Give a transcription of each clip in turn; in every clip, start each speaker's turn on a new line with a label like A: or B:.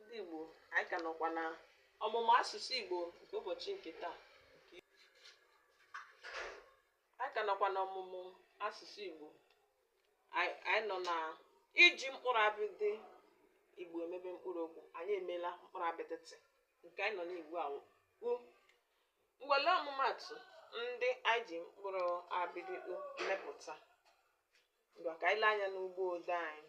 A: ndị Igbo anyị ka nọkwa na ọmụmụ asụsụ Igbo nke ụbọchị nke taa anyị ka nọkwa na ọmụmụ asụsụ Igbo anyị nọ na iji mkpụrụ abịdị Igbo emebe mkpụrụ okwu anyị emeela mkpụrụ abịdị t nke anyị nọ na ya ugbu a bụ u ngwa lee ọmụmatụ ndị anyị ji mkpụrụ abịdị u mepụta ngwa ka anyị lee anya n'ụgbọ ode anyị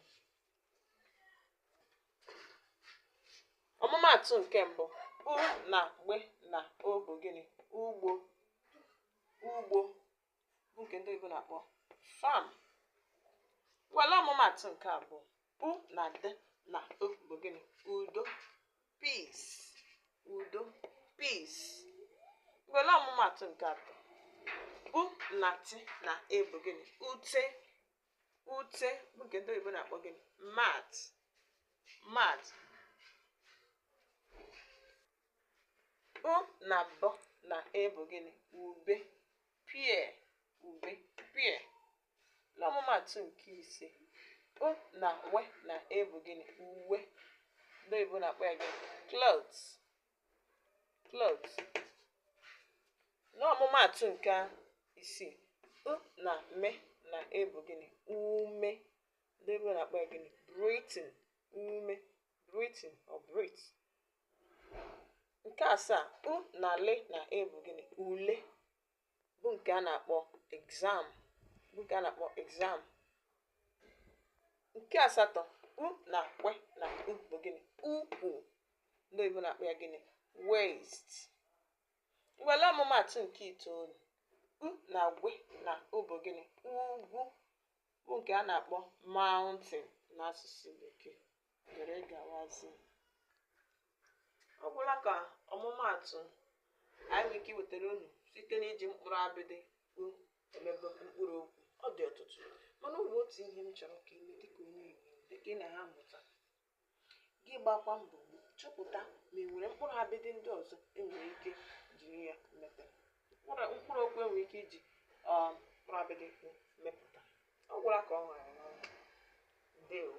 A: ọmụmaatụ nke mbụ u na gbe na o bụ gịnị ugbo ugbo bụ nke ndị oyibo na-akpọ farm ngwa lee ọmụmaatụ nke abụọ u na d na o bụ gịnị udo peace udo peace ngwa lee ọmụmaatụ nke atọ u na t na e bụ gịnị ute ute bụ nke ndị oyibo na-akpọ gịnị mat mat u na b na e bụ gịnị ube pear ube pear n'ọmụmatụ nke ise u na we na e bụ gịnị uwe ndị oyibo na-akpọ ya gịnị clothes clothes n'ọmụmaatụ nke isii u na me na e bụ gịnị ume ndị oyibo na-akpọ ya gịnị breathing ume breathing or breathe nke asaa u na le na e bụ gịnị ule bụ nke a na-akpọ exam bụ nke a na-akpọ exam nke asatọ u na kwe na u bụ gịnị ukwu ndị oyibo na-akpọ ya gịnị waist ngwa lee ọmụmatụ nke itoolu u na gwe na u bụ gịnị ugwu bụ nke a na-akpọ mountain n'asụsụ bekee dere gawazie ọ gwụla ka ọmụmaatụ anyị nwere ike iwetara unu site n'iji mkpụrụ abịdị u emebe mkpụrụ okwu ọ dị ọtụtụ mana ọ bụ otu ihe m chọrọ ka i mee dịka onye Igbo dịka ị na-amụta gị gbakwa mbọ chọpụta ma e nwere mkpụrụ abịdị ndị ọzọ e nwere ike jiri ya mepụta mkpụrụ okwu e nwere ike iji um, mkpụrụ abịdị mepụta ọ gwụla ka o nwere ndewo